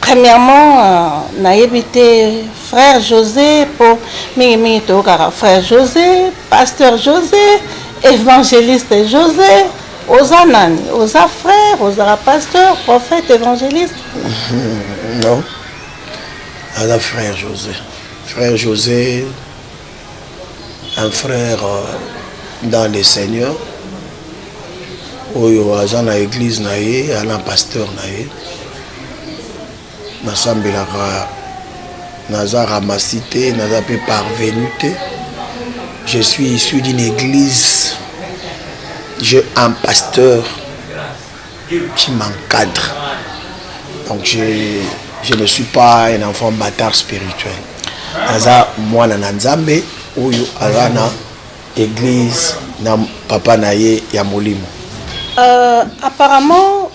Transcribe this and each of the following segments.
Premièrement, nayebi te frère Jose po mingi mingi toyokaka frère Jose, pasteur Jose, evangeliste Jose. Oza nani? Oza frère, ozala pasteur, prophète, évangéliste? Non. Aza frère Jose. Frère Jose un frère euh, dans le Seigneur oyo aza na église na ye ana pasteur na ye nasambelaka naza ramasi te naza mpe parvenu te je suis issu d'une église j'ai un pasteur qui m'encadre. Donc je, je ne suis pas un enfant bâtard spirituel. Naza mwana na Nzambe oyo aza na église na papa na ye ya molimo. Euh, apparemment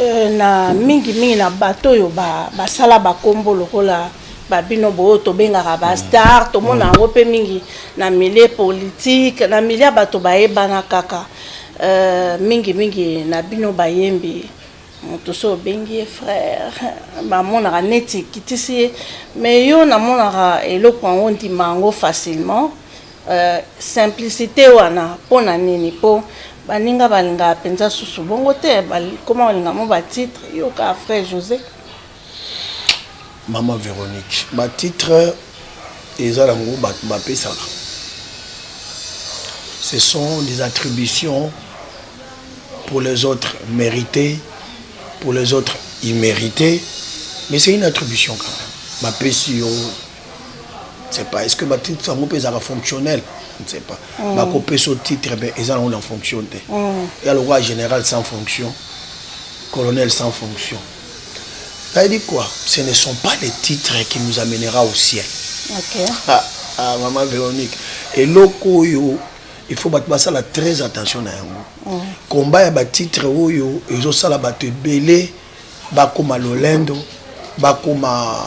euh, na mingi mingi na bato oyo basala ba bakombo lokola babino boyo tobengaka bastar tomona yango mpe mingi na milieu politique na milieu ya bato bayebana kaka Euh, mingi mingi na bino bayembi moto so obengi ye frère bamonaka neti ekitisi ye mais yo namonaka eloko yango ndima yango facilement euh, simplicité wana mpo na nini mpo baninga balingaka mpenza susu bongo te bakoma kolinga mo batitre yoka frère josé Maman Veronique ba titre eza nango batu ba pesaka ce sont des attributions pour les autres merite pour les autres immerite mais c'est une attribution quand même ba pesi yo ne sais pas est-ce que ba titre yango pesaka fonctionnel ne sais pas mm. ba ko peso titre mais eza nango na fonction te mm. ya lokola général sans fonction colonel sans fonction T'as dit quoi Ce ne sont pas les titres qui nous amènera au ciel. Ok. Ah, ah maman Véronique, eloko oyo il faut bato basala très attention na yango. Mm. Combat ya ba titres oyo ezosala bato ebele bakoma lolendo, bakoma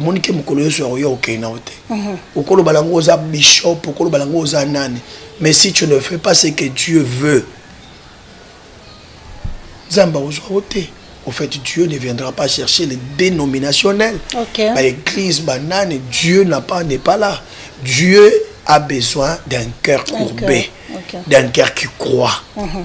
omoni ke mokolo yesu akoya okei na yo te mhm. okoloba lango oza bishop okoloba lango oza nani mais si tu ne fais pas ce que dieu veut nzambe akozwa yo te au fait dieu ne viendra pas chercher les dénominationnels okay. baeglise banani dieu n'a pas n'est pas là dieu a besoin d'un cœur courbé okay. okay. d'un cœur qui croit mm -hmm.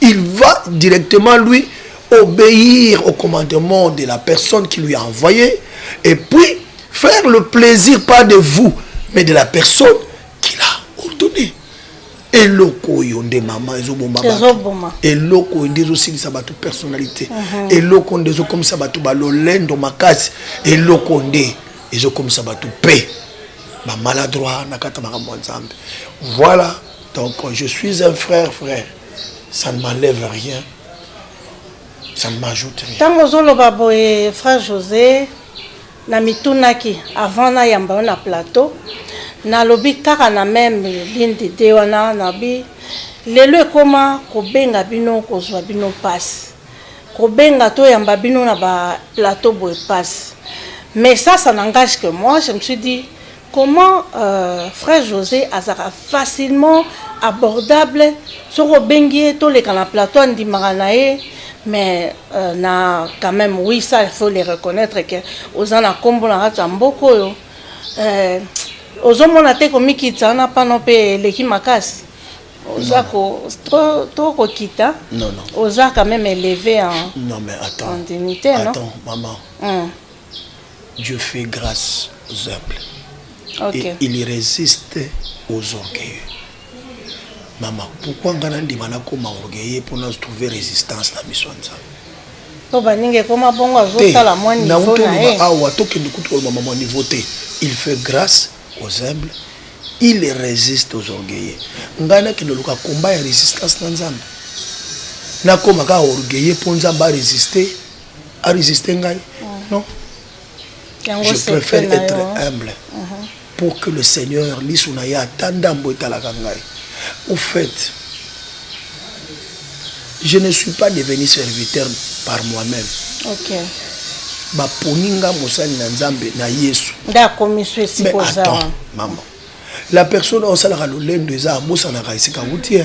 Il va directement lui obéir au commandement de la personne qui lui a envoyé et puis faire le plaisir pas de vous mais de la personne qui l'a ordonné. eloko oyo nde mama ezoboma eloko oyo nde ezosilisa bato personnalité mhm. eloko oyo nde ezokomisa bato balolendo makasi eloko oyo nde ezokomisa bato mpe bamaladroit na kati ya makambo ya nzambe voilà Donc je suis un frère frère, ça ne m'enlève rien, ça ne m'ajoute rien. Tango ozoloba boye frère José na mitunaki avant na yamba na plateau nalobi kaka na meme ligne d'idée wana nabi lelo ekoma kobenga bino kozwa bino mpasi kobenga toyamba bino na ba plateau boye mpasi mais ça ça n'engage que moi je me suis dit Comment frère Jose azalaka facilement abordable soki obengi ye toleka na plateau andimaka na ye mais na quand même oui ça il faut le reconnaître que oza na kombo na kati ya mboka oyo ozomona te komikitisa wana pano mpe eleki makasi oza ko trop trop kokita non non oza quand même élevé en non mais attends en dignité non attends maman mm. Dieu fait grace aux humbles okay. et il resiste aux orgueilleux mama pourquoi nga nandima nakoma orgueilleux mpo na trouver résistance na miso ya nzambe po baninga ekoma bongo azosala mwa niveau na ye awa tokende kutu koloba mama niveau te il fait grâce aux humbles il résiste aux orgueilleux ngai nakende oluka komba ya résistance na nzambe nakoma kaka orgueilleux mpo nzambe aresiste a resiste ngai non je préfère être humble pour que le seigneur liso na ye ata ndambo etalaka ngai au fait je ne suis pas devenu serviteur par moi-même okay. baponi nga mosali na nzambe na yesu nde akomi so esikoza mama la personne osalaka lolendo eza abosanaka esika wuti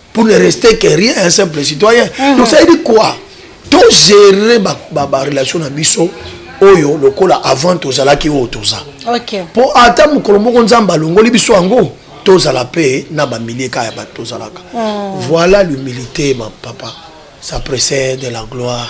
pour ne rester que rien un simple citoyen mm -hmm. donc ça veut dire quoi togere barelation ba, ba na biso oyo lokola avant tozalaki oyo toza okay. mpo ata mokolo moko nzambe alongoli biso yango tozala mpe na bamilie kaka ya bato tozalaka mm. voilà l'humilité ma papa ça précède la gloire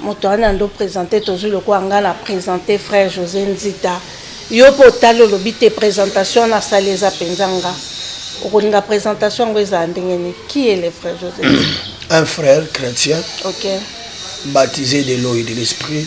Moto wana ndo presenter tozui lokola nga na presenter frère Jose Nzita. Yo pe otali olobi te presentation wana asali eza penza nga. Okolinga presentation yango ezala ndenge nini? Qui est le frère Jose Nzita? Un frère chrétien. OK. Baptisé de l'eau et de l'esprit.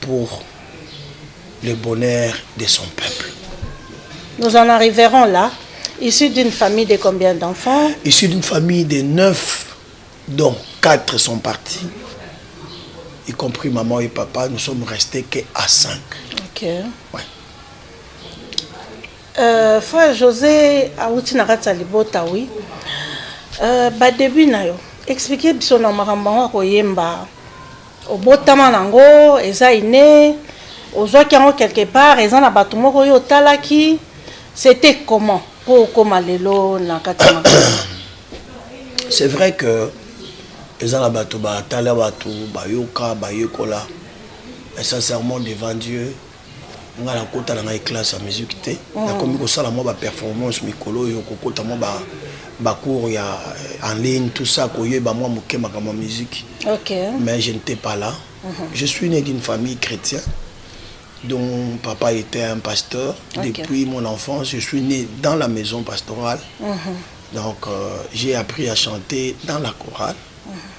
pour le bonheur de son peuple. Nous en arriverons là, issu d'une famille de combien d'enfants Issu d'une famille de neuf, dont quatre sont partis, y compris maman et papa, nous sommes restés que à cinq. Ok. Ouais. Euh, frère José awuti na kati ya libota wi euh, badebut na yo explike biso na makambo yango akoyemba Obotama na ngo eza inne ozwaki yango quelque part eza na batu moko yo otalaki c'etait comment po okoma lelo na kati ya makambo C'est vrai que eza na batu batala batu bayoka bayekola mais sincèrement devant Dieu nga na kota na ngai classe ya musique te mm. nakomi kosala mwa ba performance mikolo oyo kokota mwa ba ba cours ya euh, en ligne tout ça koyeba mwa moke makambo ya musique okay. mais je n'étais pas là mm -hmm. je suis né d'une famille chrétienne dont mon papa était un pasteur okay. depuis mon enfance je suis né dans la maison pastorale mm -hmm. donc euh, j'ai appris à chanter dans la chorale mm -hmm.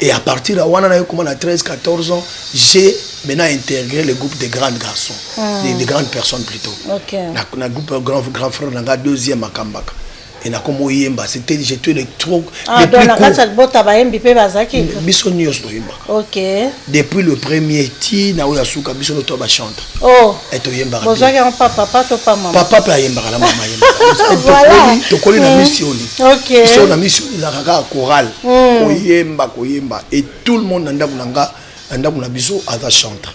Et à partir ya wana naye koma na 13 14 ans j'ai maintenant intégré le groupe des grands garçons mm. des, des grandes personnes plutôt okay. na, na groupe euh, grand, grand frère na nga deuxième akambaka et nakoma oyemba c'était je te le trop ah, donc na kati ya libota bayembi mpe bazalaki biso nyonso toyembaka okay. depuis le premier ti na oyo ya suka biso noto bachante Oh, eh, toyembaka bozwaki yango pa papa to pa mama papa mpe ayembaka na mama ayembaka tokoli na misioni mm. so na misioni ezalaka kaka chorale mm. koyemba koyemba et tout le monde na ndako na nga na ndako na biso aza chantre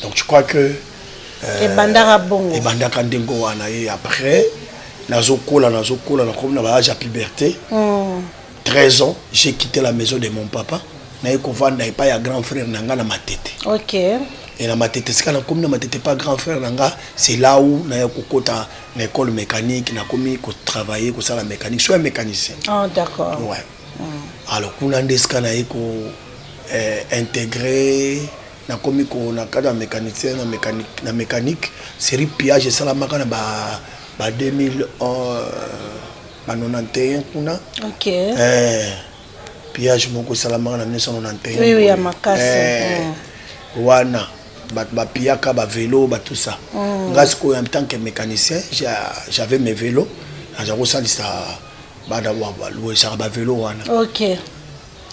donc je crois que euh, ebandaka bongo ebandaka ndenge wana ye après nazokola nazokola nakomi na baage ya puberté mm. 13 ans j'ai quitté la maison de mon papa naye kovanda epai ya grand frère na nga na matete okay. e na matete esika nakomi na matete epai grand frère na nga c'est là où naya kokota na école mécanique nakomi kotravaille kosala mécanique so ya mécanicien oh, d'accord ouais. mm. alors kuna nde esika naye ko eh, intégrer nakomi ko na cadre ya mécanicien na mécanique, na mécanique série pillage esalamaka na ba, ba 2000 euh, na 91 kuna okay. eh, pillage moko esalamaka na 1991 oui, oui, ya makasi eh, mm. wana bato bapiyaka bavelo batusa mm. nga sikoyo en tant que mécanicien j'avais mes velo naza kosalisa bana baluesaka bavelo wana okay.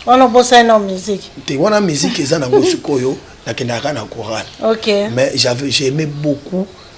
wana obosani na musique te wana musique eza nango sikoyo nakendaka na chorale okay. mais j'aimais beaucoup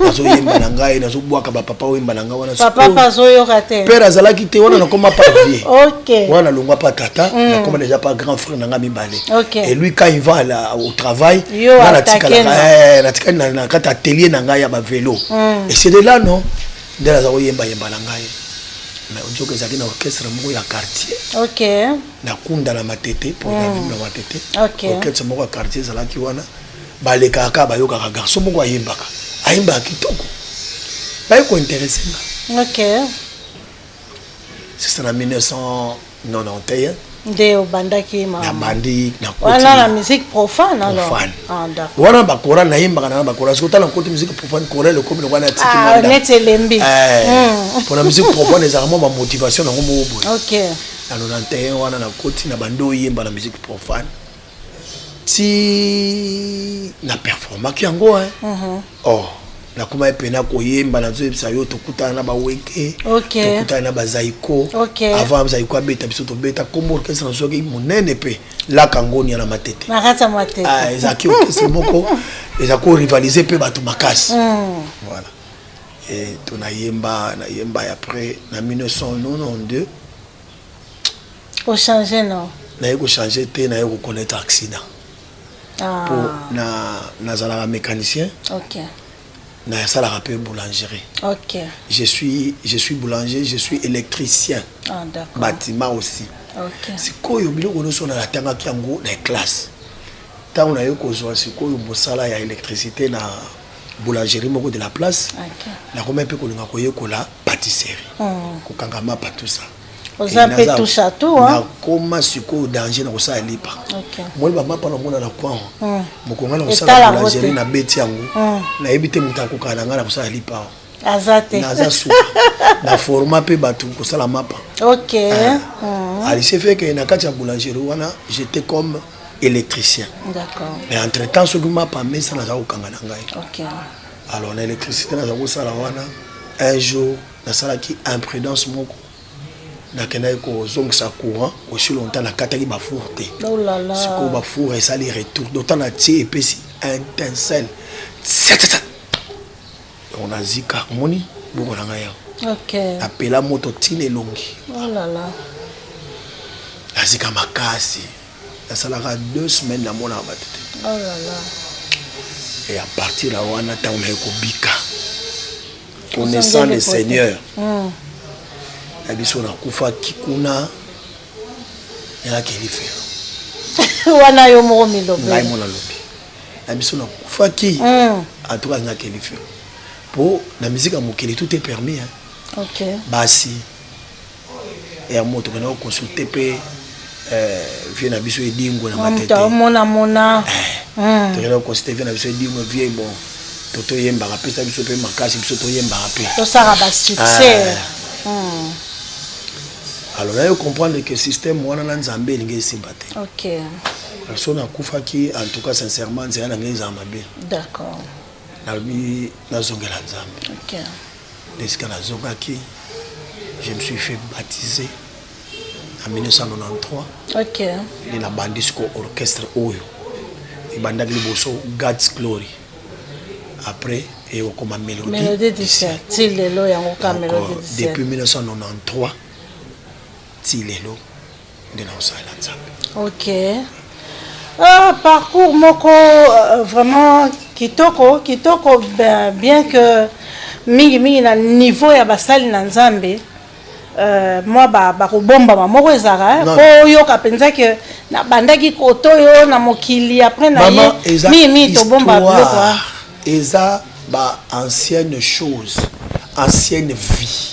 nazoyemba na ngai nazobwaka bapapa oyemba na ngai wanaper azalaki te wana nakoma pa vie wana nalongwa pa tata mm. nakoma deja pa grand frère na ngai mibale et lui quand il va la, au travail nga natikalaka natikali na kati atelier na ngai ya bavelo mm. et c'est de là non nde naza koyembayemba na ngai mais ojoko ezalaki na orchestre moko ya quartier okay. na kunda na matete po na mm. vime na matete okay. orchestre moko ya quartier ezalaki wana balekaka kaka bayokaka garçon moko ayembaka ayembaka kitoko baye kointeresse nga okay. sisa na 1991 nde obandaki nabandi wana na musique profane ah, wana bakoral nayembaka nana bakoral soki otala nkoti musique profane koral ekomi lokola natikimneti ah, elembi eh, hmm. mpona musique profane ezalaka mwa bamotivation nango moko boye na 91 wana nakoti na bandi oyemba na musique profane ti na performaki yango hein uh mhm. -huh. oh nakomaki mpena koyemba nazoyebisa yo tokutana na baweke okay. tokutana na bazaiko okay. avant bazaiko abeta biso tobeta kombo orkestre nazwaki monene mpe laka ngonia na matete ah, ezalaki orkestre moko eza korivalize mpe bato makasi mm. voilà e, to nayemba nayemba après na 1992 O changer non? Naye ko changer te, naye ko connaître accident. Ah. Po na nazalaka mécanicien. OK. Na salaka pe boulangerie. OK. Je suis je suis boulanger, je suis électricien. Ah d'accord. Bâtiment aussi. OK. Sikoyo biloko nyonso na natangaki yango na classe. Tango naye kozwa sikoyo mosala ya électricité na boulangerie moko de la place okay. nakoma mpe kolinga koyekola patisserie mm. kokanga mapa tout ça oza mpe touche à tout nakoma sikoyo danger na kosala lipa okay. moni bamapa namona na kwan mm. mokonga na kosala boulangerie na beti yango mm. nayebi te moto akokana na ngai na kosala lipa aza te naza suka na forma mpe bato kosala mapa ok ah. mm. alise feke na kati ya boulangerie wana j'étais comme électricien mais entre temps soki mapa mesa naza kokanga na ngai okay. alors na électricité naza kosala wana un jour nasalaki imprudence moko nakendaki kozongisa courant aussi longtemps nakataki bafour te oh sikoyo bafour esali retour dotan natie epesi intensel yango na zika omoni bongo na ngai yango okay. napela moto ntina elongi oh là là. nazika makasi nasalaka deux semaines namonaka bato te oh là là. e à partir ya wana ntango naye kobika connaissant le seigneur mm. na biso nakufaki kuna yalaki elifelo wana yo moko milobngai mo nalobi na biso na kufaki mm. en tout cas nga keli feu po na musique ya mokili tout est permis hein OK basi ya moto kana consulter pe euh vieux na biso edingo na matete mona mona eh, mm. tokenda consulter vieux na biso edingo vieux bon to toyembaka pesa biso pe makasi biso toyembaka pe tosaka ba succès ah. Hmm. alors nayo comprendre que système wana na nzambe elingi esimba te okay. Personne akufaki en tout cas sincèrement nzela na ngai ezala mabe. D'accord. Nalobi nazongela Nzambe. OK. Ndesika nazongaki je me suis fait baptiser en 1993. OK. Nde nabandi siko orchestre oyo ebandaki liboso God's Glory après et okoma mélodie. Mélodie du ciel. Ti lelo yango ka mélodie du ciel. Depuis 1993 ti lelo. nde nakosalela nzambe ok ah, parcours moko euh, vraiment kitoko kitoko ben, bien que mingi mingi na niveau ya basali na nzambe Euh, mwa bakobombama moko ezalaka mpo oyoka mpenza ke nabandaki koto yo na mokili apres na ye mingi mingi tobomba biloko eza ba ancienne chose ancienne vie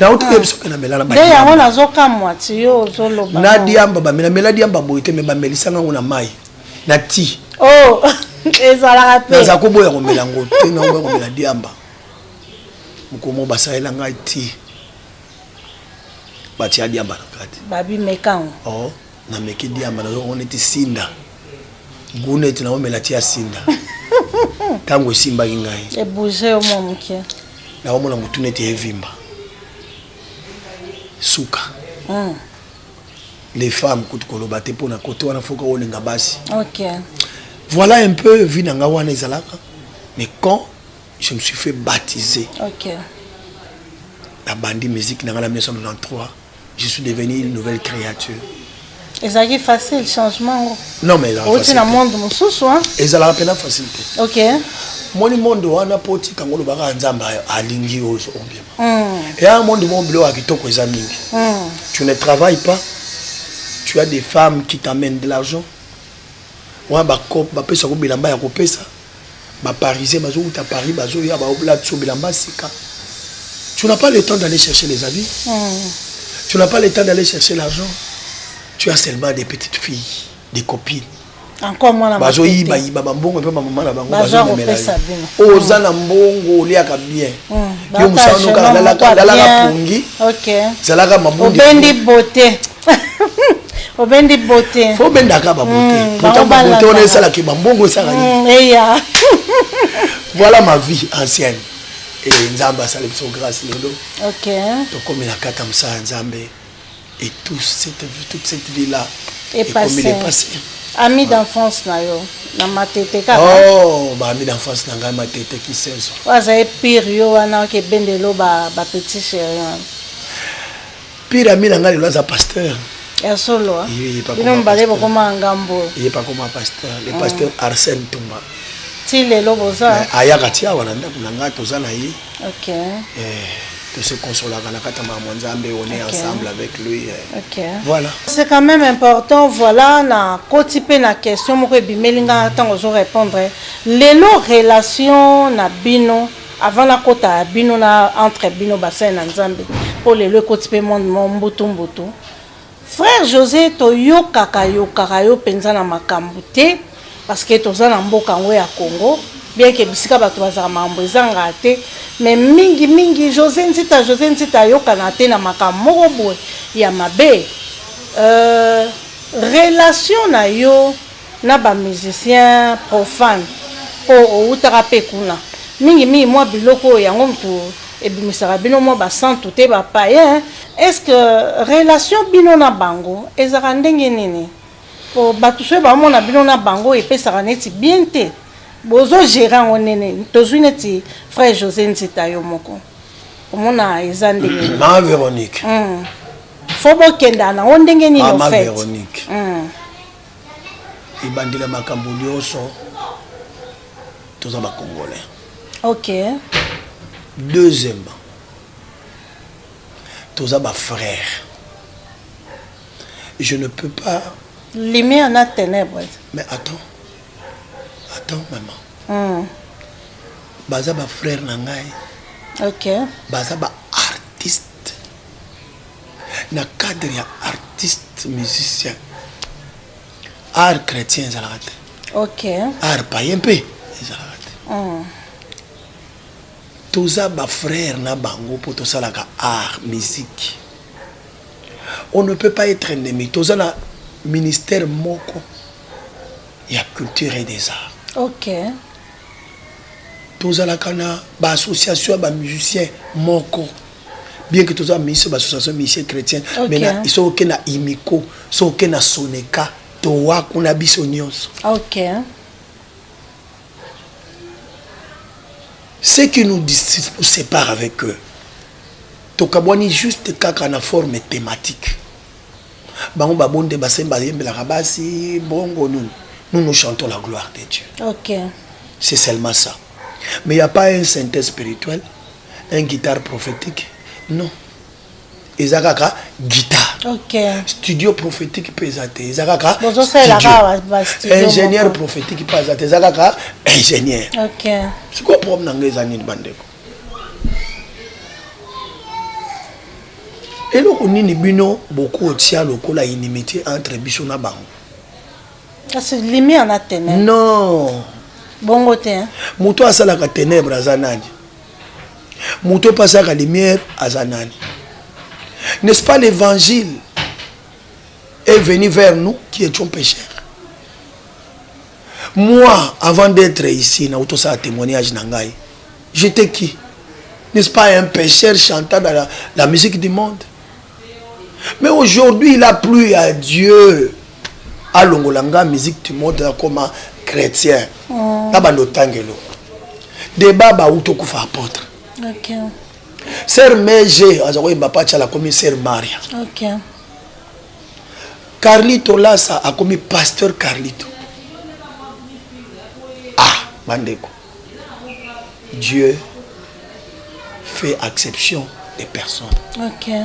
nauti koyebi soki namela na nde yango nazokamwa ti yo ozoloba na diamba bamela mela diamba boye te me bamelisanga yango na mai na ti oh, ezalaka te naza koboya komela yango te naoboya komela diamba mokomo basalela ngai ti batia diamba na kati babimekango oh. Na meki diamba na zoko neti sinda. Gout neti na omela ti ya sinda. Tango esimbaki ngai. E bouger yo mwa moke. Na omona mutu neti evimba. Suka. Mm. Les femmes kutu koloba te pona kote wana foka olinga basi. OK. Voilà un peu vie na nga wana ezalaka. Mais quand je me suis fait baptiser. OK. Na bandi musique na nga na 1993. je suis devenu une nouvelle créature ezalaki facile changement ngo non mais oti na monde mosusu ezalaka mpena facile te ok moni monde wana mpo otika ngo olobaka ya nzambe alingi oyo ombima hmm. eya monde mo biloko ya kitoko eza mingi hmm. tu ne travaille pas tu as des femmes qui t'amènent de l'argent wana bapesaka bilamba ya kopesa ba parisien bazo wuta paris bazo ya ba oblate so bilamba sika tu n'as pas le temps d'aller chercher les habits mm. tu n'as pas le temps d'aller chercher l'argent tu as seulement des petites filles des copines bazoyibayiba bambongo mpe bamama na bango bazomemela oyo oza na mbongo oliaka bien hmm, yo mosala nokaka lalaka pongi zalaka mabundi obendi bote fo obendaka babote hmm, pourtant babote wana esalaki bambongo esaka hmm, eya voilà ma vie ancienne e nzambe asali biso grâce lelo tokomi na kata mosala ya nzambe et tout cette, toute cette vie là ekomi depasse ami d'enfance na yo na matete kaka oh, baami d'enfance na ngai matete kisenso oyo azali pire yo wana okebendelo bapetit ba chéri wana Pire ami na ngai lelo aza pasteur. Ya solo. Bino mibale bokoma ngambo. Ye pa koma pasteur, le mm. pasteur Arsène Tumba. Ti lelo boza. Ayaka ti awa na ndako na ngai toza na ye. OK. Eh, to se consolaka na kata makambo Nzambe, on est ensemble avec lui. Eh. OK. Voilà. C'est quand même important, voilà na koti pe na question moko ebimeli nga tango zo répondre. Lelo relation na bino Avant na kota bino na entre bino basali na nzambe po lelo ekoti pe monde mo mbutu mbutu frère José toyokaka yokaka yo penza na makambu te parce que toza na mboka ngo ya Congo bien que bisika bato bazaka makambo ezanga te mais mingi mingi José Nzita José Nzita ayokana te na makambo moko boye ya mabe euh, relation na yo na ba musiciens profanes po owutaka pe kuna, mingi mingi mua biloko oyo yango mutu ebimisaka bino mua ba santu te ba païens, est ce que relation bino na bango ezalaka ndenge nini? Po batu soki ba mona bino na bango epesaka neti bien te, bozo gerer yango ndenge nini? Tozui neti frère Jose Nzita yo moko omona eza ndenge nini? Ma Veronique. Hum faut bokendana ngo ndenge nini au fait? Ma Veronique. Hum. Ebandeli ya makambo nionso toza ba congolais. OK. Deuxièmement, toza ba frères. Je ne peux pas lumière na ténèbres. Mais attends. Attends maman. Mm. Baza ba frères na ngai. OK. Baza ba Na cadre ya artiste musicien art chrétien ezalaka te. OK. Art païen pe ezalaka te. Mm. Toza ba frères na bango po tosalaka art musique. On ne peut pas être ennemi. Toza na ministère moko ya culture et des arts. OK. Tozalaka na ba association ya ba musiciens moko. bien que toza miso bassociation musicien chrétien mais na iso oke na imiko so oke na soneka towa kuna biso nyonso okay. ce qui nous sépare avec eux tokabwani juste kaka na forme thématique bango babonde basemba ayembelaka basi bongo nini nous nous chantons la gloire de dieu okay. c'est seulement ça mais il n'y a pas un synthèse spirituel un guitare prophetique non eza kaka guitare okay. studio prophétique mpe eza te eza kaka ingénieur prophétique mpe aza te eza kaka ingénieur okay. sikoyo problème na ngai eza nini bandeko eloko nini bino bokotia lokola inimité entre biso na bango kasi lumière na ténèbre non bongo te hein? moto asalaka ténèbre aza nani moto mpe asalaka lumière aza nani n'est-ce pas l'évangile est venu vers nous qui étions pécheurs moi avant d'être ici na utosala témoignage na ngai j'étais qui n'est-ce pas un pécheur chantant dans la, la musique du monde mais aujourd'hui il a plu à Dieu alongola nga musique du monde nakoma chrétien oh. na bando otangelo deba bauti okufa apôtre okay. ser mege aza koyemba pacha akomi ser maria okay. carlito lasa akomi pasteur carlito ah bandeko dieu fait exception des personnes okay.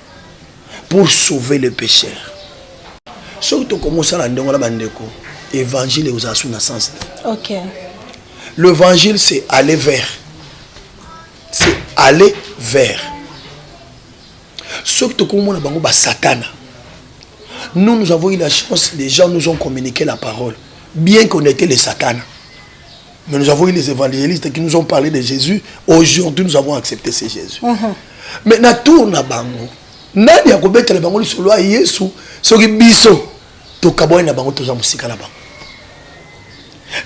pour sauver le pécheur soki tokomi osala ndenge wana bandeko évangile ekozala su na sens te okay. l'évangile c'est aller vers c'est aller vers soki tokomi mona bango basatana nous nous avons eu la chance les gens nous ont communiqué la parole bien qu'on était les satana Mais nous avons eu les évangélistes qui nous ont parlé de Jésus. Aujourd'hui, nous avons accepté ce Jésus. Mm -hmm. Mais na tour na bango, nani akobetela bango lisolo ya Yesu soki biso tokabwani na bango toza mosika na bango.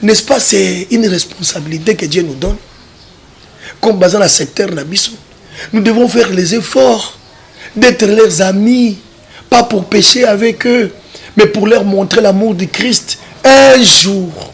N'est-ce pas c'est une responsabilité que Dieu nous donne comme baza na secteur na biso. Nous devons faire les efforts d'être leurs amis, pas pour pécher avec eux, mais pour leur montrer l'amour du Christ un jour.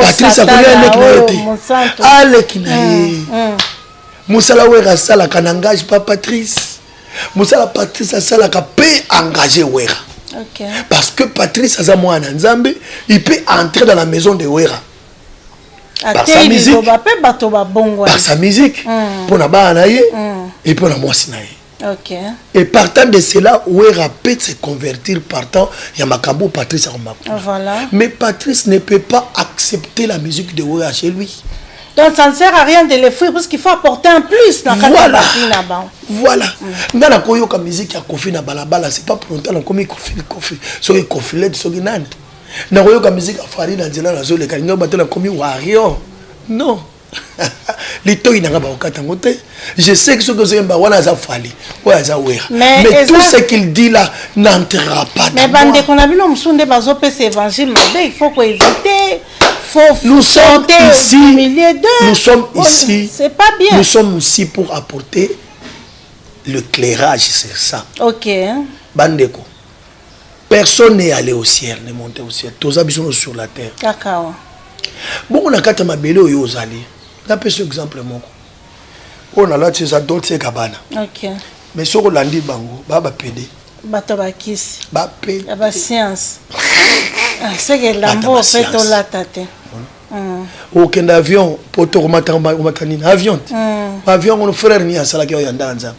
patrice akolia eleki na yo te aleki na ye mosala wera asalaka na engage pa patrice mosala patrice asalaka mpe engage wera okay. parce que patrice aza mwana na nzambe il peut entrer dans la maison de wera par sa musique par sa musique mpo na bana na ye mpe mpo na mwasi na ye Okay. Et partant de cela, Wera peut se convertir partant Yamakambo Patrice Arumakou. Voilà. Mais Patrice ne peut pas accepter la musique de Wera chez lui. Donc ça ne sert à rien de l'effrire parce qu'il faut apporter un plus dans voilà. Voilà. Mm. Nga na koyo ka musique ya Kofi na balabala, c'est pas pour longtemps na komi Kofi Kofi. So ki Kofi led so ki nani. Na koyo ka musique ya Fari na nzela na zo le kalinga batela komi Wario. Non. litoyi nanga bakokata yango te je sais que soki ozoyemba wana aza fali oyo aza wera mais tout ce qu'il dit là n'entrera pas mais bandeko na bino mosusu nde bazopesa évangile mabe il faut koevite nous sommes ici nous sommes ici c'est pas bien nous sommes ici pour apporter le clairage c'est ça ok bandeko personne n'est allé au ciel ne monte au ciel toza biso no sur la terre kakawa bongo na kati ya mabele oyo ozali napesa exemple moko oyo nalati eza dolce kabana okay. mais soki olandi bango baa bapede bato bakisi bapede ba science ah, soki elambo mpe tolata te mm. okenda avion mpo tokomata nini avion te mm. avion ngono frère nini asalaki oyo ya ndaka nzambe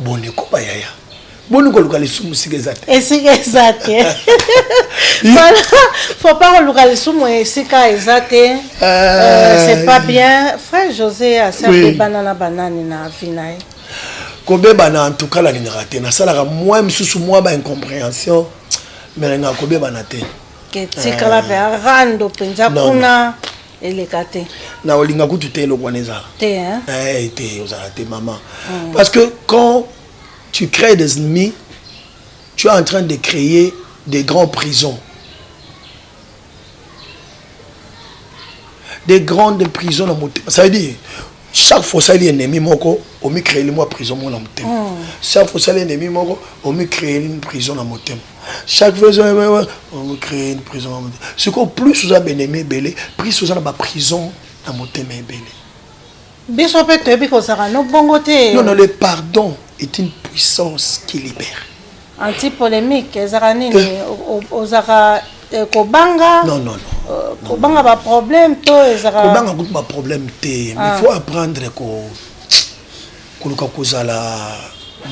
boni koba yaya boni koluka lisumu esika eza te esika eza te voilà faut pas koluka lisumu esika eza te euh, euh, c'est pas bien frère josé asabebana na banani na vie na ye kobebana en tout cas nalingaka te nasalaka mwa misusu mwa ba incomprehension mais nalingaka kobebana te etikala mpe euh, arando mpenza kuna eleka te na olinga kutu te eloko wana ezala te hein? eh, te ozala te maman mm. parce que quand tu crées des ennemis tu es en train de créer des grands prisons des grandes prisons na motema ça veut dire chaque fois osali ennemi moko omicréeli mwa prison moko na motema mm. chaque fois osali ennemi moko omicréeli prison na motema chaque fois on crée une prison ce qu'on plus oza benemi ebele plus oza na ba prison na motema ebele biso pe toyebi kozala no bongo te non non le pardon est une puissance qui libère anti polémique ezaka nini eh. ozaka eh, kobanga non non non euh, kobanga ba problème to ezaka kobanga kutu ba problème te mais ah. faut apprendre ko koluka kozala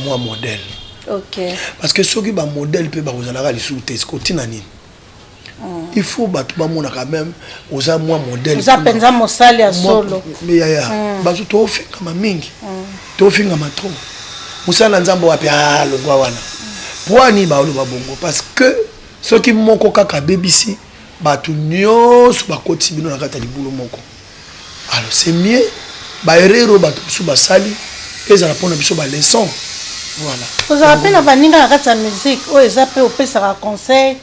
mwa modèle okay. parce que soki ba modèle mpe bakozalaka lisusu te siko ntina nini mm. il faut bato bamona quand même oza mwa modèle oza mpenza mosali ya solo yaya mm. bato toofingama mingi mm. toofingama trop mosala na nzambe wapi alongwa ah, wana mpo ani baoloba bongo parce que soki moko kaka abebisi bato nyonso bakoti bino na kati ya libulu moko Alors c'est mieux ba erreur oyo bato mosusu basali ezala mpo na biso ba leçon voilà. Ozala mpe na baninga na kati ya musique oyo eza mpe opesaka conseil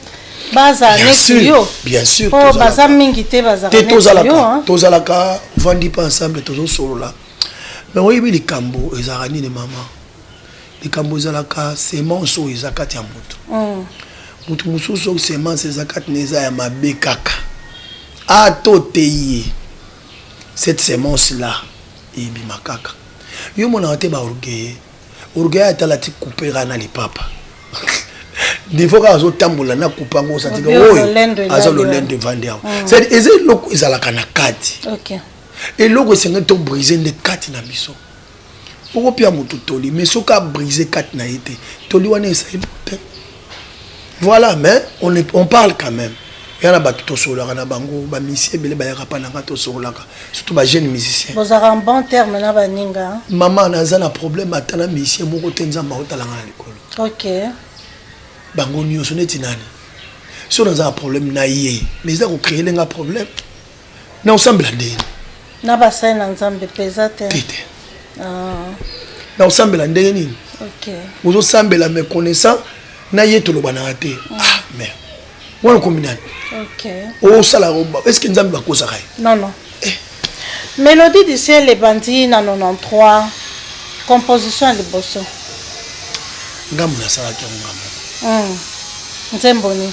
bazala neti yo mpo baza mingi te bazalaka neti yo tozalaka ovandi mpe ensemble tozosolola me oyebi likambo ezalaka nini mama Likambo ezalaka semence oyo eza kati ya mutu. Mutu mususu soki semence eza kati naye eza ya mabe kaka a to teyi ye cette semence là ebima kaka. Yo omonaka te ba orgueilleux? Orgueilleux ata alati coupe kaka na lipapa niveau kaka azo tambola na coupe yango osanti ke oyo aza lolendo evandi awa. C'est à dire eza eloko ezalaka na kati. Eloko esengeli to briser nde kati na biso. Oko pia mutu toli mais soki a brise carte na ye te toli wana eza eloko te voilà mais on, est, on parle quand même ya na bato tosololaka na bango bamisie ebele bayaka mpa nanga tosololaka surtout bajeune musicien bozalaka en bon terme na baninga mama naza na problème ata na misie moko te nzambe aotalanga na likolo ok bango nyonso neti nani so naza na problème na ye mais eza kocréele nga problème na osambela nde nini na basali na nzambe mpe eza te te te Ah, na osambela ndenge nini ok ozosambela me connaissant na ye tolobanaka te ah mer wana okomi nani ok osala estce nzambe bakosaka ye non non Eh. mélodie du ciel ebandi na 93 composition ya liboso ngambo nasalaki yango ngambo Mm. nzembo nini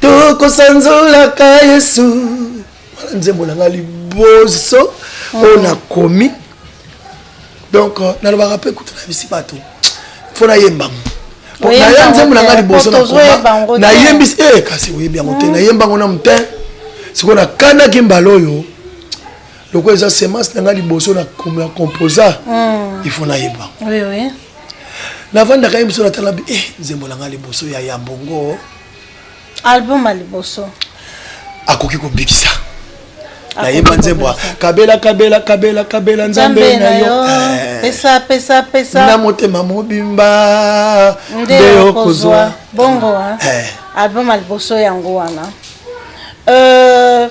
tokosanzolaka yesu wana nzembo na ngai liboso mm. oyo nakomi donc euh, nalobaka mpe kutu na bisi bato mpo nayembango naya nzembo na ngai liboso nayembisi e kasi oyebi yango te mm. nayembango na motin sikoyo nakanaki mbala oyo lokola eza semence na ngai liboso na composa mm. ifo nayeba navandaka ye mosu natala bi eh, nzembo na ngai liboso ya ya mbongo album ya liboso akoki kobikisa nayemba nzembo kabela kabela kabela kabela nzambe na yo eh. pesa pesa pesa na motema mobimba nde okozwa bongo eh. album ya liboso yango wana euh,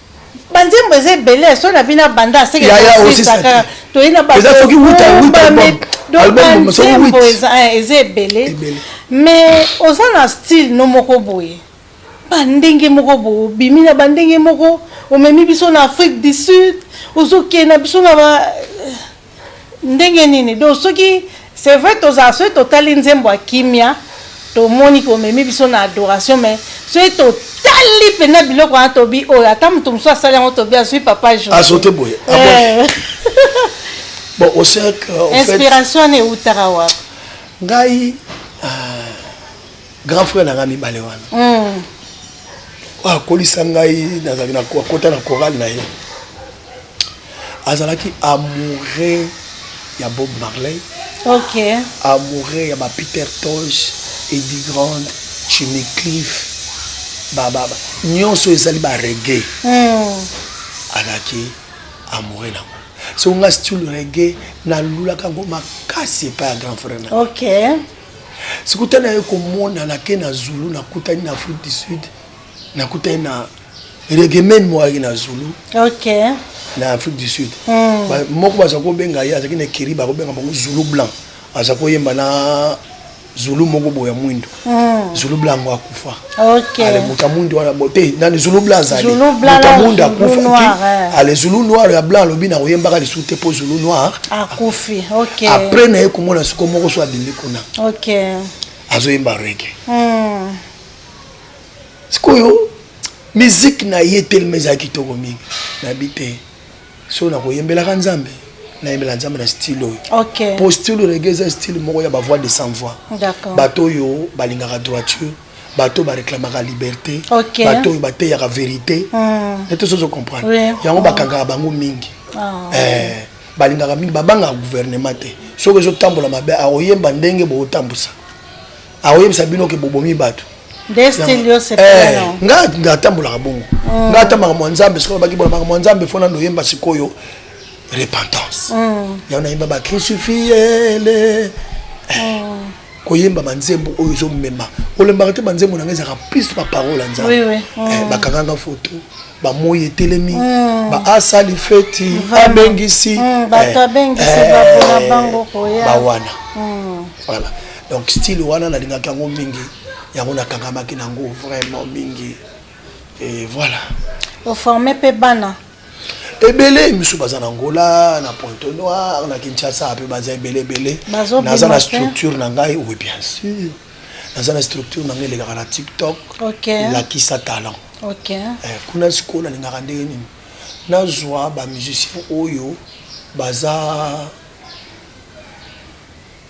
banzembo eza ebele so na bino abanda asekaka toyei na banzembo eh, eza ebele mais oza na style no moko boye bandenge moko boye obimi na bandenge moko omemi biso na afrique du sud ozokende na biso na ba Ndenge nini donc soki c'est vrai tozala soki totali nzembo ya kimia tomoni komemi biso na adoration mais soki totali mpenza biloko wana tobi oyo ata moto mosusu asali yango tobi azwi papa jo azote boye ah eh. bon osek euh, inspiration wana eutaka wapi ngai euh, grand frère na ngai mibale wana hmm. akolisa ngai nazalaki akota na chorale na ye Azalaki amoureux ya Bob Marley. Ok. Amoureux ya ba Peter Tosh, Eddie Grant, Jimmy Cliff. Ba ba ba nionso ezali ba reggae. Hmm. Azalaki amoureux na so nga style reggae nalulaka yango makasi epai ya grand frère na okay. sikoyo ntango naye komona nake na zulu nakutani na afrique du sud nakutani na regemen moyaki na zulu okay. na afrique du sud mm. ba, moko baza kobenga ye azalaki na ekiri bakobenga bango zulu blanc aza koyemba na zulu moko boya mwindo mm. zulu blanc yango akufa okay. ale moto ya mwindo wana bote nani zulu blanc azali moto ya mwindo akufa eh. ale zulu noir ya blanc alobi na koyembaka lisusu te mpo zulu noir akufi okay. apres na ye komona siko moko so abimi kuna okay. azoyemba rege mm. sikoyo miziki na ye telema ezala kitoko mingi nayebi te so nakoyembelaka nzambe nayembela nzambe na style oyo okay. po style rege eza style moko ya bavoix de sans voix bato oyo balingaka droiture bato oyo bareklamaka liberté okay. bato oyo bateyaka verité mm. ete sozo comprendre oui. yango bakangaka bango mingi oh. eh, balingaka mingi babangaka gouvernement te soki ezotambola mabe akoyemba ndenge bokotambusa akoyebisa bino ke bobomi bato eh, nga atambolaka bongo mm. nga atambaka mwa nzambe sikoyo baki bona makambo ya nzambe fona noyemba sikoyo repentance mm. yango nayemba bakrisufiyele eh, mm. koyemba banzembo oyo ezomema olembaka te banzembo na nga ezalaka plus baparole ya nzambe eh, bakanganga foto bamoi etelemi mm. baasali feti abengisi mm, bato eh, abengisi eh, bapona bango koya bawana mm. voilà donc style wana nalingaki yango mingi yango nakangamaki nango vraiment mingi et voilà oforme mpe bana ebele misu baza na ngola na pointe noire na kinshasa mpe baza ebele ebele naza na structure na ngai oui bien sûr naza na structure na ngai elekaka na tiktok okay. lakisa talent okay. eh, kuna sikoyo nalingaka ndenge nini nazwa bamusicien oyo baza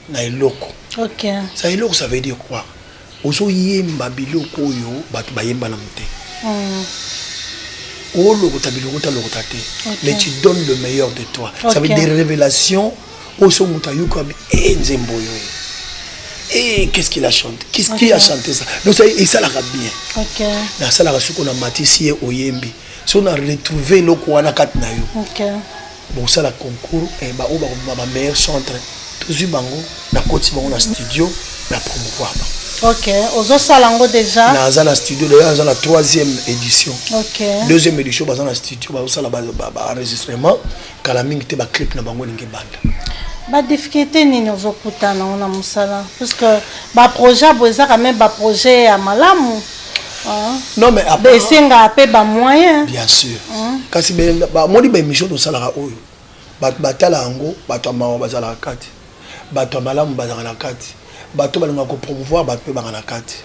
na eloko okay. sa eloko ça veut dire quoi ozoyemba biloko oyo bato bayemba na mote mm. olokota bilokota lokota te okay. mais tu donnes le meilleur de toi okay. ça veut dire révélation oyo so moto ayokami e eh, nzembo oyo e eh, qu'est-ce qu'il a chanté qu'est-ce okay. qui a chanté ça donc esalaka bien okay. nasalaka soki na matisi ye oyembi so na retrouve eloko wana kati na yo okay. bosala concours eh, baoyo bakobima ba meilleur centre tozwi bango nakoti bango na studio na promouvoir bango ok ozosala yango déjà naza na studio d'ailleurs aza na troisième édition ok deuxième édition baza na studio bazosala baenregistrement Kala mingi te ba clip na bango elingi ebanda. Ba difficultes nini ozo kutana nango na musala? Parce que ba projets ya boye eza quand même ba projets ya malamu. Hein? Non mais après ba esengaka pe ba moyens. Bien sûr. Hein? Kasi ba moni ba emissions tosalaka oyo bato batala yango bato ya mawa bazalaka kati bato ya malamu bazalaka na kati bato balingaka kopromouvoir bato mpe banga na kati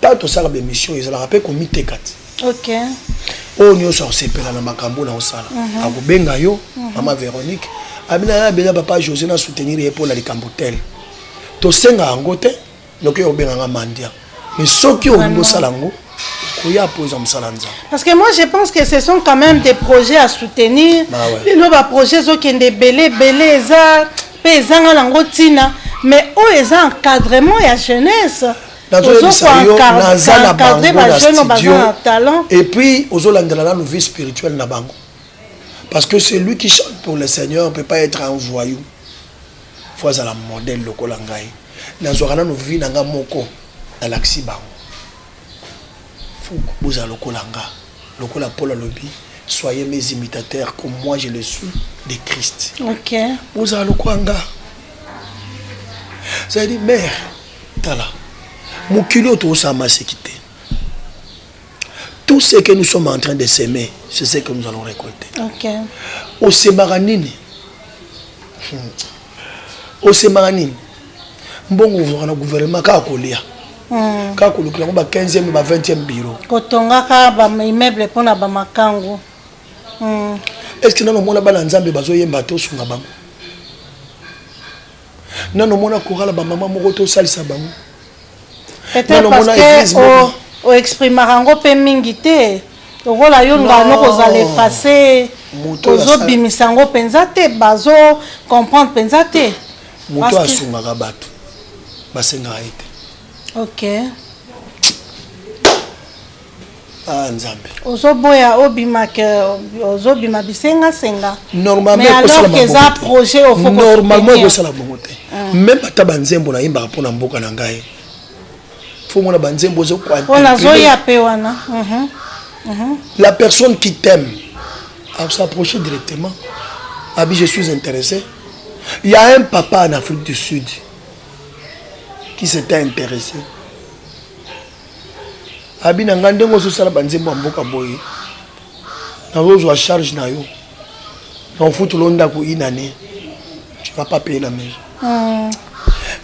Tango tosala ba emission ezalaka pe ko miteka te. Okay. Oyo nioso akosepela na makambo na osala. Uh -huh. Akobenga yo, uh -huh. Mama Veronique. Abina ya bela papa José na soutenir ye pona likambo tel. Tosenga yango te, noki yo obenga nga mandia. Mais soki olingi osala yango, koya mpo eza mosala nzambe parce que moi je pense que ce sont quand même des projets à soutenir lelo baprojet ezokende ebele ebele eza mpe ezanga nango ntina mais oyo eza encadrement ya jeunesse nazoyebisa yo naza na bango na studio et puis ozolandela nanu vie spirituelle na bango parce que celui qui chante pour le seigneur peut pas être un voyou fo azala modèle lokola ngai nazwaka nanu vie na ngai moko nalakisi bango fo bozala lokola nga lokola paul alobi soyez mes imitateurs comme moi je le suis de christ okay. bozala lokola nga c'est-à-dire mère Tala, mokili oyo tokosala maseki te. Tout ce que nous sommes en train de semer, c'est ce que nous allons récolter. Ok. Osemaka nini? Hmm. Osemaka nini? Mbongo ozwaka na gouvernement kaka kolia. Hmm. Kaka kolukela yango ba 15e ba 20e bureau. Kotongaka ba immeuble mpo na ba makango. Hmm. Est-ce que nano mona bana Nzambe bazoyemba te osunga bango? nano mona korala bamama moko te osalisa bango nano mona eglise moko oexprimaka yango mpe mingi te lokola yo ngano kozala efase ozobimisa yango mpenza te bazo comprendre mpenza te moto asungaka bato basengaka ye te ok Ah, nzambe ozoboya obimaka ozobima bisengasenga normalemaeza projet normalement ekosala bongo te ah. meme ata banzembo nayimbaka mpo na mboka na ngai fomona banzembo ozokwanazoya mpe wana mhm. Mhm. la personne qui t'aime s'approcher directement abi je suis intéressé il y a un papa en afrique du sud qui s'était intéressé abi na ngai ndenge ozosala banzembo ya mboka boye nazozwa charge na yo na ofutolo ndako une année tu vas pas payer la maison hmm.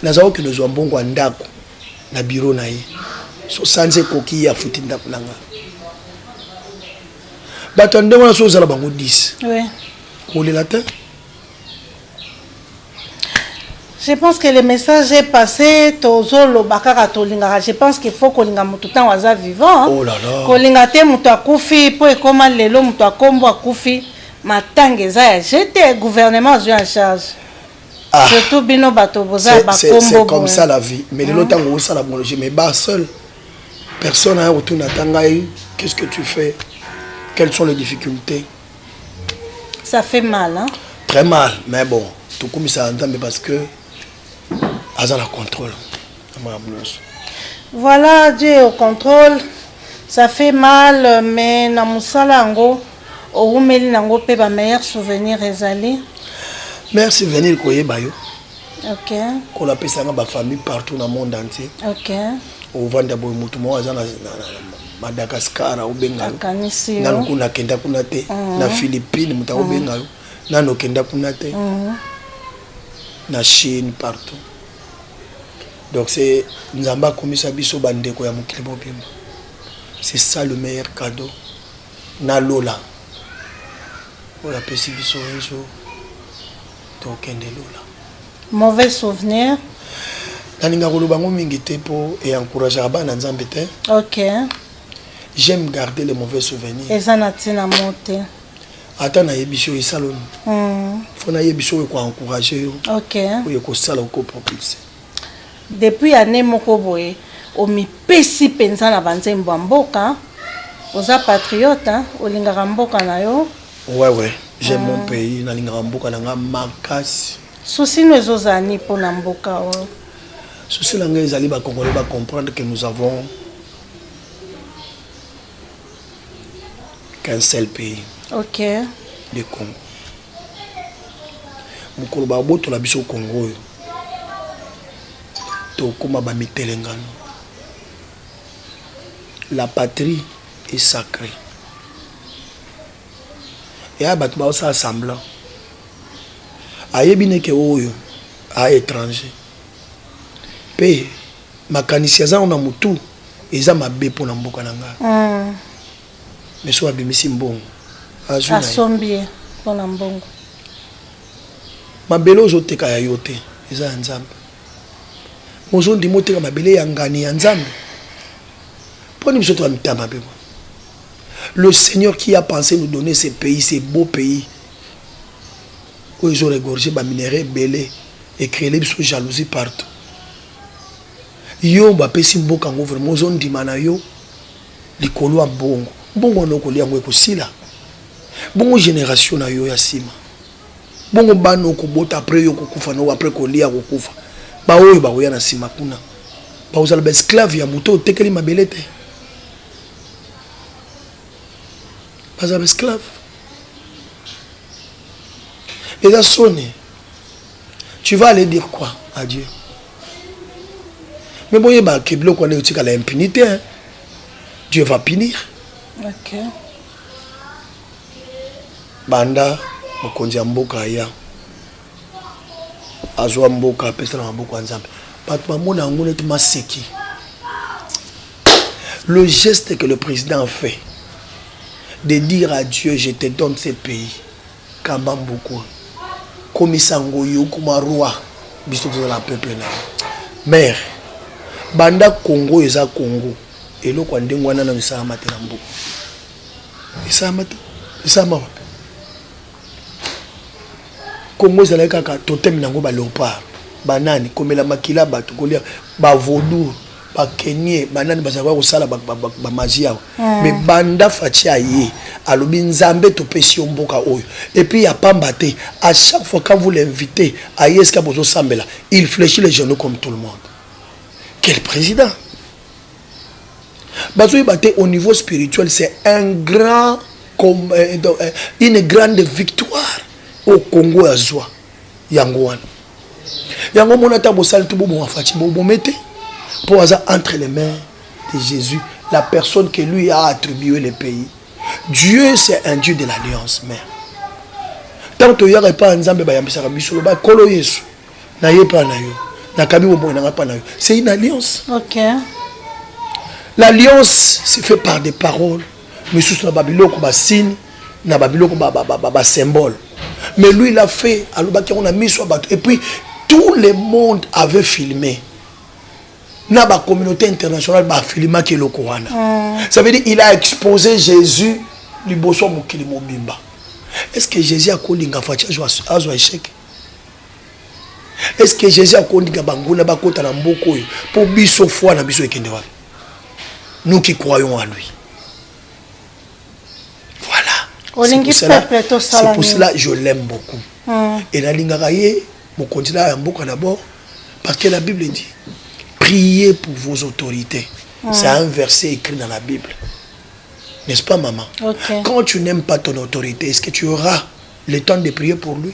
naza kokende ozwa mbongo ya ndako na biro na ye so sanza ekoki ye afuti ndako na ngai bato ya ndenge wana so ozala bango 10 kolela te Je pense que le message est passé tozoloba kaka tolingaka je pense qu'il faut kolinga moto ntango aza vivant oh là là. kolinga te moto akufi mpo ekoma lelo moto akombo akufi matanga eza ya jete gouvernement azwi en charge ah. surtout bino bato boza ya bakombo comme ça la vie mais lelo ntango osala bologe mais ba seul personne aya kotuna ata ngai qu'est ce que tu fais quelles sont les difficultés Ça fait mal, hein? Très mal, mais bon, tout comme ça mais parce que aza na contrôle. Voilà, Dieu au contrôle. Ça fait mal, mais na musala yango owumeli nango mpe ba meilleur souvenir ezali. Meilleur souvenir koyeba yo. OK. Kola pesanga ba famille partout na monde entier. OK. Ovanda boye mutu moko aza na Madagascar akobenga yo Akanisi yo. nanu kuna akenda kuna te na Philippines moto akobenga yo nanu okenda kuna te na Chine partout donc c'est Nzambe akomisa biso bandeko ya mokili mobimba c'est ça le meilleur cadeau na lola oyo apesi biso un jour tokende lola Mauvais souvenir. Nalingaka koloba yango mingi te mpo e encourageaka bana na Nzambe te. Ok. J'aime garder les mauvais souvenirs. Eza na ntina mo te. Ata nayebisi yo esaloni. Mm. Faut nayebisi oyo ko encourager yo. Ok. Oyo ekosala oko propulser. Depuis année moko boye omipesi mpenza na banzembo ya mboka oza patriote olingaka mboka na yo Ouais ouais, j'aime mon pays, nalingaka mboka na nga makasi. Souci no ezozala ni mpo na mboka oyo? Souci na nga ezali ba Congolais ba comprendre que nous avons qu'un seul pays. OK. Le Congo. Mokolo ba botola biso Congo oyo. Tokoma ba mitelengano. La patrie est sacrée. yaya bato baosala semblant ayebi neke oyo a étranger mpe makanisi aza na motu eza mabe mpo na mboka na ngai mm. mais soki abimisi mbongo azwiasombi ye mpo na mbongo mabele ozoteka ya yo te eza ya nzambe mozondima oteka mabele ya ngani ya nzambe mpo nini biso toya mitama mpe Le seigneur qui a pense nous donner ce pays ce beau pays oyo ezo regorger ba minerais ebele e creele biso jalousie partout yo bapesi mboka yango vraiment ozondima na yo likolo ya mbongo mbongo wana okolia yango ekosila bongo génération na yo ya nsima bongo bana okobota apres yo okokufa nao apres kolia kokufa baoyo bakoya na nsima kuna bakozala baesclave ya moto otekeli mabele te baza ba esclave eza soni tu vas aller dire quoi à dieu mais boyeba ke biloko wana etikala impunité hein? dieu va punir okay. banda mokonzi ya mboka aya azua mboka apesa na maboko ya nzambe bato bamona yango neti maseki le geste que le président a fait de dire à dieu je te donne ce pays kamba mboka komisa yango yo okoma roi biso tozala peuple na yo mare banda congo oyo eza congo eloko ya ndenge wana nano esalama te na mboka esalama te esalama wapi Congo ezalaki kaka totem nango ba leopard banani komela makila bato kolia ba vodou ba kenie banani bazalaka kosala ba magie awa ah. mais banda faci aye alobi nzambe topesi yo mboka oyo epuis ya pamba te à chaque fois quand vous l'invite aye esika bozosambela il fléchit les genoux comme tout le monde quel président bazoyeba te au niveau spirituel c'est un grand comme euh, euh, une grande victoire au Congo ya zwa yango wana yango mona ata bosali to boboma faci bobome te mpo aza entre les mains de Jésus la personne que lui a attribué le pays Dieu c'est un Dieu de l'alliance mère ntango toyaka epai ya nzambe bayambisaka biso loba nkolo yesu na ye pa na yo nakabi bomoi na ngai pa na yo c'est une alliance okay. l'alliance c'est fait par des paroles misusu na babiloko basini na babiloko basymbole mais lui il a fait alobaki yango na miso ya bato et puis tout le monde avait filmé na bacommunauté internationale bafilimaki eloko wana mm. ça veut dire il a exposé jésus liboso ya mokili mobimba est ce que jésus akolinga faci azwa échec est ce que jesus akondika banguna bakota na mboka oyo mpo biso foi na biso ekende wapi nous qui croyons à lui voilà c'est pour cela je l'aime beaucoup mm. et nalingaka ye mokonzi na ya mboka d'abord parce que la bible dit priez pour vos autorités mm. c'est un verset écrit dans la bible n'est-ce pas maman okay. quand tu n'aimes pas ton autorité est-ce que tu auras le temps de prier pour lui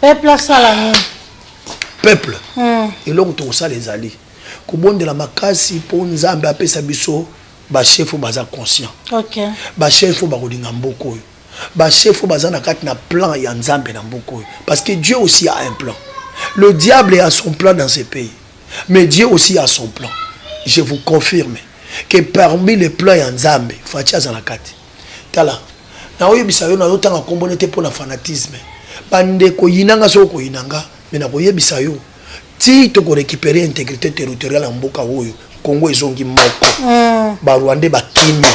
peuple asala nini peuple hmm. eloko tokosala ezali kobondela makasi mpo nzambe apesa biso bachef oyo baza conscient okay. bachef oyo bakolinga mboka oyo bachef oyo baza na kati na plan ya nzambe na mboka oyo parce que dieu aussi a un plan le diable a son plan dans ce pays mais dieu aussi a son plan je vous confirme que parmi les plans ya nzambe faci aza na kati Tala nao yebisa yo nazo tanga kombo ne te pona fanatisme bande ko yina nga soki oko yina nga mais nako yebisa yo ti toko recuperer integrite territoriale ya mboka oyo Congo ezongi moko mm. ba Rwandais ba kimi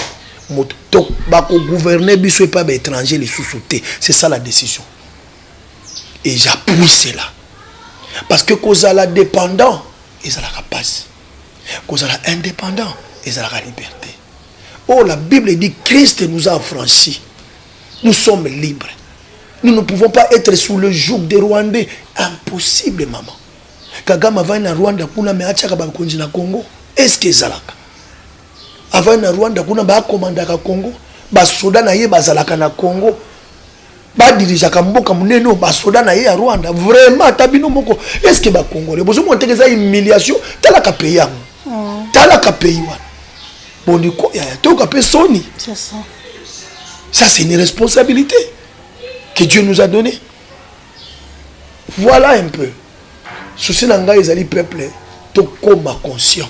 moto to bako gouverner biso epa ba étranger lisusu te c'est ça la décision et j'appuie cela parce que kozala dépendant ezalaka pasi kozala indépendant ezalaka liberté Oh, la Bible dit Christ nous a affranchis. Nous sommes libres. Nous ne pouvons pas être sous le joug des Rwandais. Impossible, maman. Kagame avandi na Rwanda kuna me atiaka bakonzi na Congo. Est-ce que ezalaka? Avandi na Rwanda kuna baakomandaka Congo. Basoda na ye bazalaka na Congo. ba dirigeaka mboka munene oyo ba soda na ye ya Rwanda vraiment ata bino moko est ce que ba congolais bozo mona teke eza humiliation tala ka pays yango mm. tala ka pays wana boni ko ya to ka pe soni c'est ça ça c'est une responsabilité que Dieu nous a donné voilà un peu souci na ngai ezali peuple tokoma conscient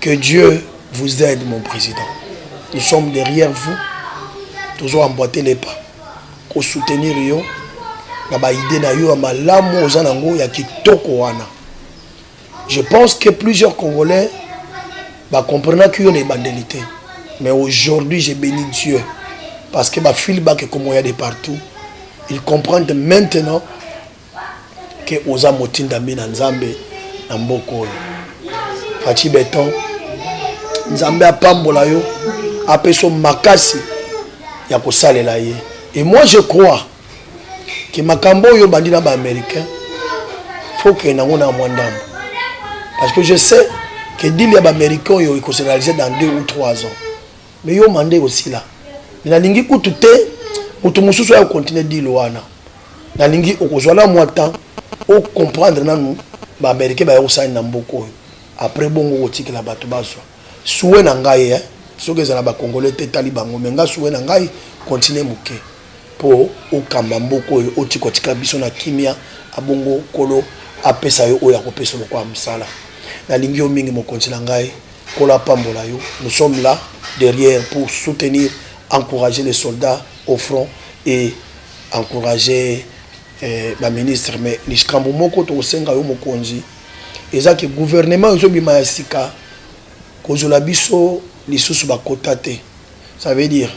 Que Dieu vous aide mon président. Nous sommes derrière vous. Toujours emboîter les pas. Ko soutenir yo na ba idée na yo ya malamu oza nango ya kitoko wana. Je pense que plusieurs Congolais ba comprendre que yo na ebandeli te. Mais aujourd'hui, j'ai béni Dieu parce que ba feedback comme il y a de partout. Ils comprennent maintenant que oza motindami na nzambe na mboka oyo faci beton nzambe apambola yo apeso makasi ya kosalela ye et moi je crois ke makambo oyo obandi na baaméricain faut kende yango na mwa ndambo parce que je sais ke dile ya baaméricain oyo ekose réalise dans deux ou trois ans mais yo manda ekosila me nalingi kutu te moto mosusu ayo continue dile wana nalingi okozwa na mwa temps o comprendre nanu ba americain baya kosala nini na mboka oyo après bongo okotikela bato bazwa souhait na ngai hein? soki ezala ba congolais te etali bango mais ngai souhait na ngai continue moke mpo okamba mboka oyo otika otika biso na kimia abongo nkolo apesa yo oyo akopesa lokola mosala nalingi yo mingi mokonzi na ngai nkolo apambola yo nous sommes là derrière pour soutenir encourager les soldats au front et encourager ba ministres mais likambo moko toko senga yo mokonzi eza que gouvernement ezo bima ya sika kozwela biso lisusu ba quotas te ça veut dire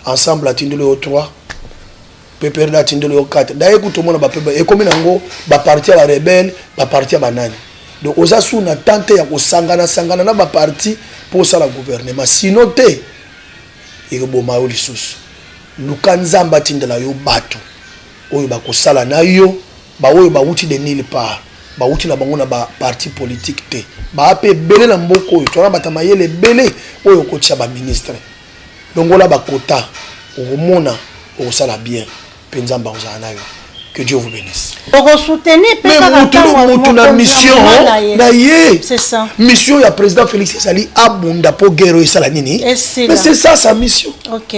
ensemble atindeli yo trois pprd atindeli yo quatre d'ailleurs kutu omona ba pprd ekomi na yango ba parti ya ba rebelle ba parti ya ba nani donc oza sous na temps te ya kosangana sangana na ba parti mpo osala gouvernement sinon te ekoboma yo lisusu. Luka Nzambe atindela yo batu oyo bakosala na yo, ba oyo bawuti de nulle part, bawuti na bango na ba partis politiques te, baa pe ebele na mboka oyo, toza na batu ya mayele ebele oyo okotia ba ministres. Longola ba quotas, okomona okosala bien. pe nzambe akozala na yo que dieu vous benisse oko soutenir pe kaka mutu mutu na mission na ye mission ya président félix ezali abunda po guerre oyo esala nini mais c'est ça sa mission ok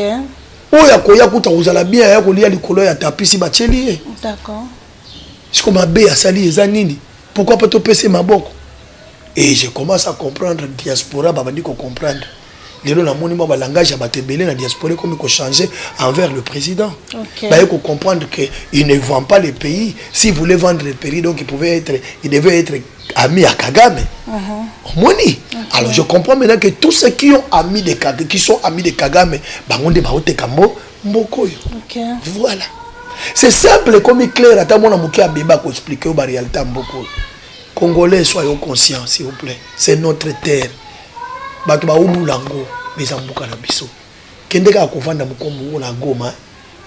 oyo akoya kuta kozala bien aya kolia likolo ya tapisi batieli ye d'accord siko mabe asali eza nini pourquoi pas topesa maboko et je commence à comprendre diaspora babandi ko comprendre lelo namoni mwa balangage ya bato ebele na diaspora ekomi kochange envers le président okay. baye kocomprendre que il ne vend pas le pays si voulait vendre le pays donc il pouvait être il devait être ami ya kagame uh -huh. omoni okay. alors je comprends maintenant que tous ceux qui ont ami de kagame qui sont amis de kagame bango nde baoteka mbo mboko oyo okay. voilà c'est simple ekomi clair ata mwana moke abeba koexplike yo barealité ya mboko oyo congolais soyons conscient s'il vous plaît c'est notre terre Batu ba ulula ngo mais eza mboka na biso kende kaka kovanda mokolo moko na goma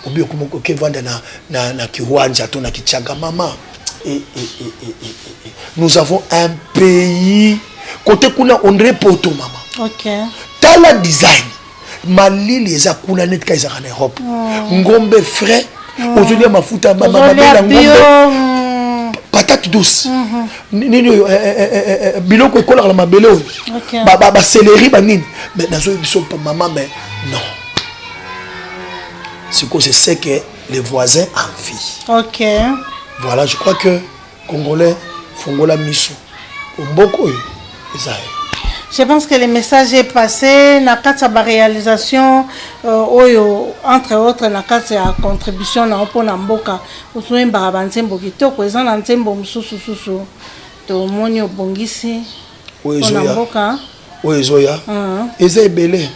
obi okomi okevanda na, na, na kiwanja to na kichanga mama e, e, e, e, e, e. nous avons un pays kote kuna ondre poto mama okay. tala design malili eza kuna neti ka ezalaka na europe mm. ngombe frais mm. ozolia mafuta mabela ngombe mm. patate douce mm -hmm. nini oyo eh, eh, eh, eh, eh biloko ekolaka na mabele oyo okay. baseleri ba, ba banini mais nazoyi biso mama mais non sikoyo c'est ce que les voisins en vie okay. voilà je crois que Congolais fongola miso omboko oyo eza yo. Je pense que le message est passé na kati ya ba réalisation euh, oyo entre autres na kati ya contribution na mpo na mboka ozoyembaka ba nzembo kitoko eza na nzembo mosusu susu tomoni obongisi mpo na mboka oyo ezoya eza ebele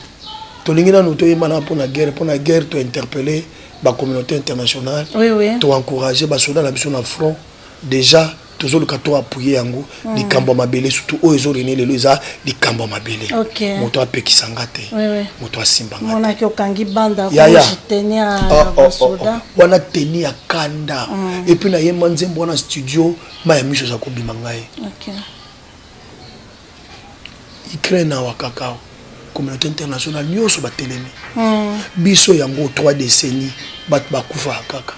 tolingi nanu toyemba na mpo na guerre mpo na guerre tointerpelle ba communauté internationale oui, oui. to encourager ba soda na biso na front déjà tozoluka to appuye yango mm. likambo ya mabele surtout oyo ezorene lelo eza likambo ya mabele okay. moto apekisa nga te oui, oui. moto asimba nga monaki okangi banda yaya teni ya oh, ah, oh, ah, oh, ah, oh. wana teni ya kanda mm. epuis nayemba nzembo wana studio ma ya miso eza kobima ngai okay. Ukraine awa kakao communauté internationale nyonso batelemi mm. biso yango 3 décennie bato bakufaka kaka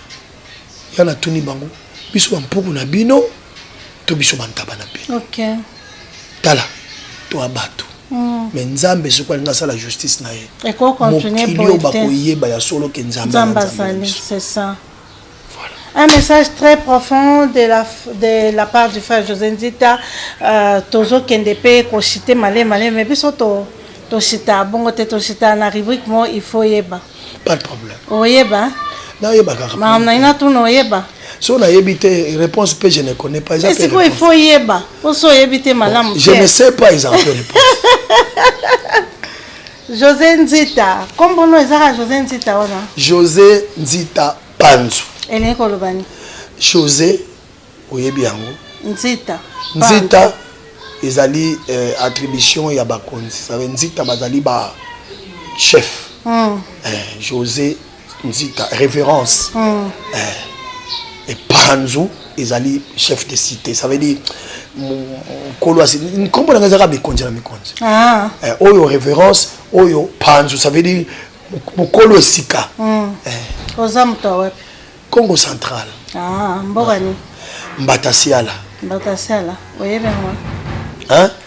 ya natuni bango biso bampuku na bino to biso bantaba na bino okay. tala toa bato mm. me nzambe soki alingi asala justice na ye mokili oyo bakoyeba ya solo ke nzambe azali Un message très profond de la, de la part du frère José Nzita. Euh, tozo kende pe ko citer malé malé mais biso to to cita bongo te to cita na rubrique mo il faut yeba. Pas de problème. Oyeba. Na yeba kaka. Ma na ina tu no yeba. So na yebi te réponse pe je ne connais pas exemple. C'est quoi il faut yeba. Oso yebi te malamu. Je ne sais pas exemple réponse. Jose Nzita, kombo no ezaka Jose Nzita wana? Jose Nzita Panzu. Elingi koloba nini? Jose oyebi yango? Nzita. Nzita ezali eh, attribution ya bakonzi. Ça veut Nzita bazali ba chef. Mm. Eh, Jose nzita révérence mm. eh, epanzu ezali chef de cité ça veut dire nkolo asi nkombo na ngai ezaka mikonzi na mikonzi ah. eh, oyo révérence oyo panzu ça veut dire mokolo esika mm. eh. oza moto ya wapi congo central ah, mboka nini mbatasiala mbatasiala oyebi yango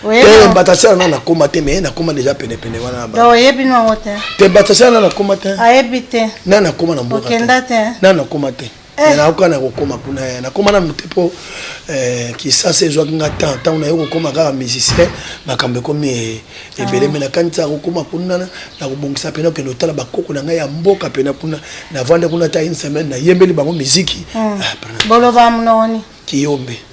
te mbatasela na nakoma te me nakoma deja penepene wana oyebi nango te te mbatasela na nakoma te ayebi te na nakoma na mboka okenda te na nakoma te eh. nayoka na kokoma kuna eh, nakoma nanu te mpo eh, kisasa ezwaki nga temps ntango naye kokoma kaka musicien makambo ekomi ebele me ah. nakanisaka kokoma kuna nakobongisa mpena okende otala bakoko na ngai ya mboka mpena kuna navande kuna ta une semaine nayembeli bango miziki hmm. ah, boloba mnoni kiyombe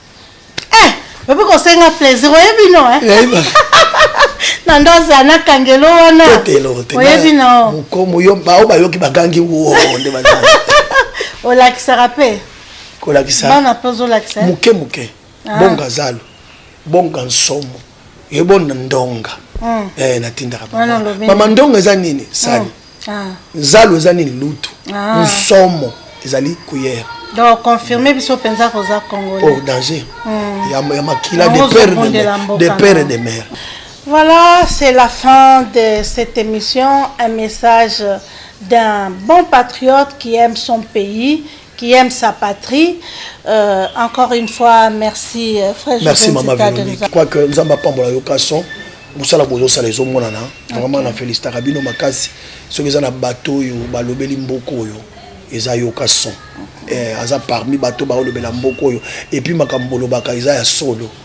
Eh, babi kosenga plaisir oyebi no eh? na ndo azala na kangelo wana oyebi no mokomo yo baoyo bayoki bagangi wo nde bazala olakisaka mpe kolakisa bana mpe ozolakisa eh? moke moke ah. bonga zalo bonga nsomo ebon ndonga eh natindaka mama ndonga eza nini sani oh. ah. zalo eza nini lutu ah. nsomo ezali kuyere donc confirme biso mpenza koza congolais oh danger hmm. ya makila de père de père et de mère Voilà, c'est la fin de cette émission. Un message d'un bon patriote qui aime son pays qui aime sa patrie. Euh, encore une fois, merci euh, frère Merci maman Véronique. Je crois que nous avons pas la location. mosala bozosala ezomonana vraiment na felicitaka bino makasi soki eza na bato oyo balobeli mboka oyo eza yoka son eh, aza parmi bato baolobela mboka oyo epuis makambo bolobaka eza ya solo